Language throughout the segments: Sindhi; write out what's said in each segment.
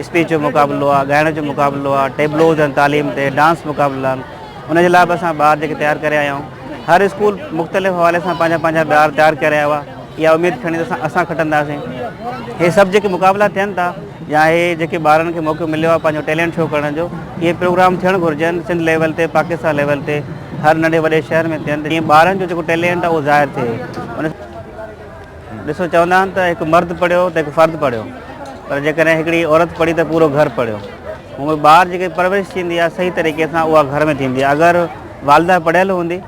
اسپيچ جو مقابلو آهي، ڳائڻ جو مقابلو آهي، ٽيبلوز آهن، تعليم تي ڊانس مقابلا آهن، ان جي لاء به اسان ٻار جيڪي تيار ڪري آيا آهيون، هر اسڪول مختلف حوالي سان پنهنجا پنهنجا ٻار تيار ڪري آيو آهي، اها اميد کڻي ته اسان کٽنداسين، هي سڀ جيڪي مقابلا ٿين ٿا يا هي جيڪي ٻارن کي موقعو مليو آهي پنهنجو ٽيلنٽ شو ڪرڻ جو، اهي پروگرام ٿيڻ گهرجن، سنڌ ليول تي، پاڪستان ليول تي، هر ننڍي وڏي شهر ۾ ٿين ته جيئن ٻارن جو جيڪو ٽيلنٽ آهي اهو ظاهر ٿئي. ڏسو چوندا آهن ته هڪ مرد پڙهيو ته هڪ فرد پڙهيو پر جيڪڏهن هڪڙي عورت پڙهي ته پورو گهر پڙهيو هونء ٻار جيڪي پرورش ٿيندي آهي صحيح طريقي سان اها گهر ۾ ٿيندي آهي اگر والده پڙهيل هوندي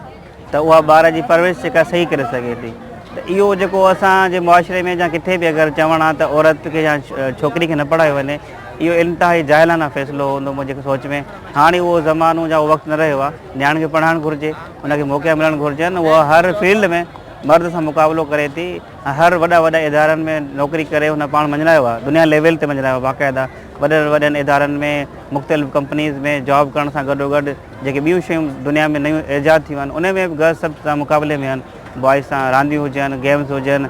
ته اها ٻار جي پرورش جيڪا صحيح ڪري سگهي ٿي ته اهو جيڪو اسان جي معاشري ۾ جا ڪٿي به اگر چوڻ آ ته عورت کي يا ڇوڪري کي نه پڙهايو وڃي اهو انتهائي جاهلانه فيصلو هوندو منهنجي سوچ ۾ هاڻي اهو زمانو جا وقت نه رهيو آ نياڻين کي پڙهائڻ گهرجي ان کي موقعا ملڻ گهرجن اها هر فيلڊ ۾ مرد سان مقابلو ڪري ٿي ۽ هر وڏا وڏا ادارن ۾ نوڪري ڪري هن پاڻ مڃرايو آهي دنيا ليول تي مڃرايو آهي باقاعده وڏن وڏن ادارن ۾ مختلف ڪمپنيز ۾ جاب ڪرڻ سان گڏو گڏ جيڪي ٻيون شيون دنيا ۾ نيون ايجاد ٿيون آهن ان ۾ به گرلس سڀ سان مقابلي ۾ آهن بوائز سان رانديون هجن گيمز هجن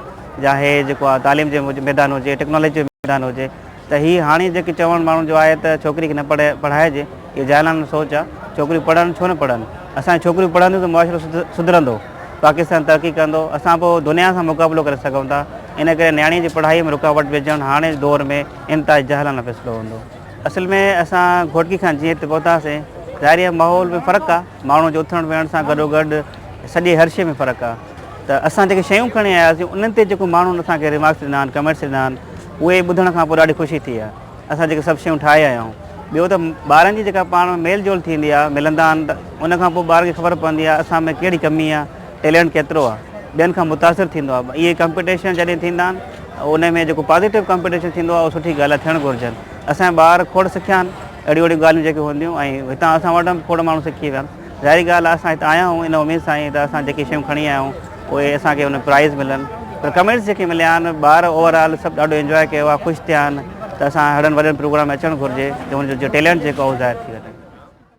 يا هي جيڪو آهي تعليم جي ميدان هجي ٽيڪنالاجي جو ميدان هجي ته هي هاڻي جيڪي چوڻ ماڻهن جو آهي ته ڇوڪري کي نه پڙهائجي اهي جاهلانه سوچ آ ڇوڪريون پڙهن ڇو نه پڙهن اسان جون ڇوڪريون پڙهنديون ته معاشرو سڌرندو پاڪستان ترقي ڪندو اسان پوء دنيا سان مقابلو ڪري سگهون ٿا ان ڪري نياڻي جي پڙهائي ۾ رڪاوٽ وجهڻ هاڻي جي دور ۾ انتهائي جاهلانه فيصلو هوندو اصل ۾ اسان گهوٽڪي کان جيئن هتي پهتاسين ظاهري ماحول ۾ فرق آ ماڻهن جي اٿڻ ويهڻ سان گڏوگڏ سڄي هر شي ۾ فرق آ. ته اسان جيڪي شيون کڻي آياسين انهن تي جيڪو ماڻهن اسان کي ريمارڪس ڏنا آهن ڪمينٽس ڏنا آهن اهي ٻڌڻ کان پوء ڏاڍي خوشي ٿي آهي اسان جيڪي سڀ شيون ٺاهي آيا آهيون ٻيو ته ٻارن جي جيڪا پاڻ ۾ ميل جول ٿيندي آهي ملندا آهن ته ان کان پوء ٻار کي خبر پوندي آهي اسان ۾ ڪهڙي ڪمي آهي ٽيلنٽ ڪيترو آهي ٻين کان متاثر ٿيندو آهي اهي ڪمپيٽيشن جڏهن ٿيندا آهن ان ۾ جيڪو پازيٽو ڪمپيٽيشن ٿيندو آهي اهو سٺي ڳالهه آهي ٿيڻ گهرجن اسان جا ٻار کوڙ سکيا آهن اهڙيون اهڙيون ڳالهيون جيڪي هونديون ۽ هتان اسان وٽان به کوڙ ماڻهو سکي ويا ظاهري ڳالهه آهي اسان هت آيا آهيون ان اميد سان ئي ته اسان جيڪي شيون کڻي آيا آهيون اهي اسان کي ان پرائز ملن پر ڪمينٽس جيڪي مليا آهن ٻار اوور آل سڀ ڏاڍو انجوائي ڪيو آهي خوش ٿيا آهن ته اسان هڙن وڏن پروگرام ۾ اچڻ گهرجي ته ان جو ٽيلنٽ جيڪو آهي اهو ظاهر ٿي وڃي.